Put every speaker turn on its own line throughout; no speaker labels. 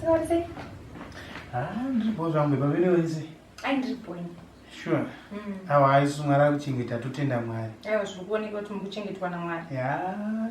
Sorry. Ah, ndiripo zvangu baba vene wenze. Ai ndiripo ini. Sure. Mm. Awa aisu mwari akuchengeta totenda mwari. Aiwa zviri kuoneka kuti muri kuchengetwa naMwari. Yeah.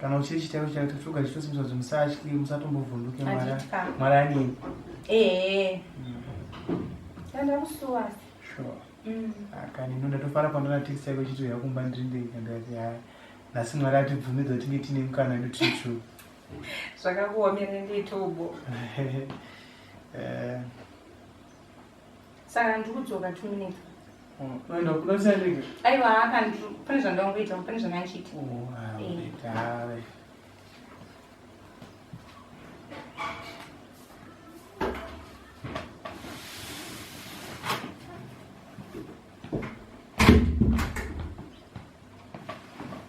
kana uchiri chitero chaiwo tatsvuga zvichosimbiswa kuti musatyi musatombovhunduke mwari anini ehe tandakusuwa sure mm. ah, kani ino ndatofara pandona text yako chiti uya kumba ndiri ndega ndikati haya nhasi mwari atibvumidza kuti tinge tiine mukana edu tiri two zvakakuomere nditubo eh. saka ndikudzoka two minutes unoenda kuda kusaendeke aiwa haka pane zvandangoita pane zvandandichiita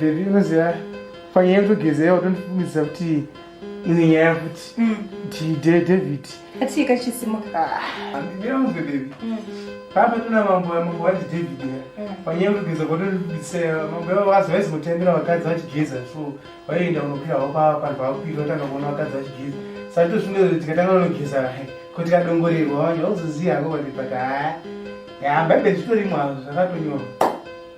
bebi unoziva panyaya yekutogeza yawo tondifungidzisa kuti ine nyaya futi mm. david Kati kachisimuka. Handidi yangu bebebi. Mm. Pamba tuna mambo ya mambo wachi David ya. Mm. Panyaya kugeza kwa tuli kubise mambo ya wazi wazi kutembera wakadzi vachigeza. So waienda unopira wapa panhu paupira utanga kuona wakadzi vachigeza. Sati tosvunge kuti tikatanga unogeza kuti kadongorerwa wanya uzoziya hako kuti pata. Ya baibheri zvitorimwa zvakatonyorwa.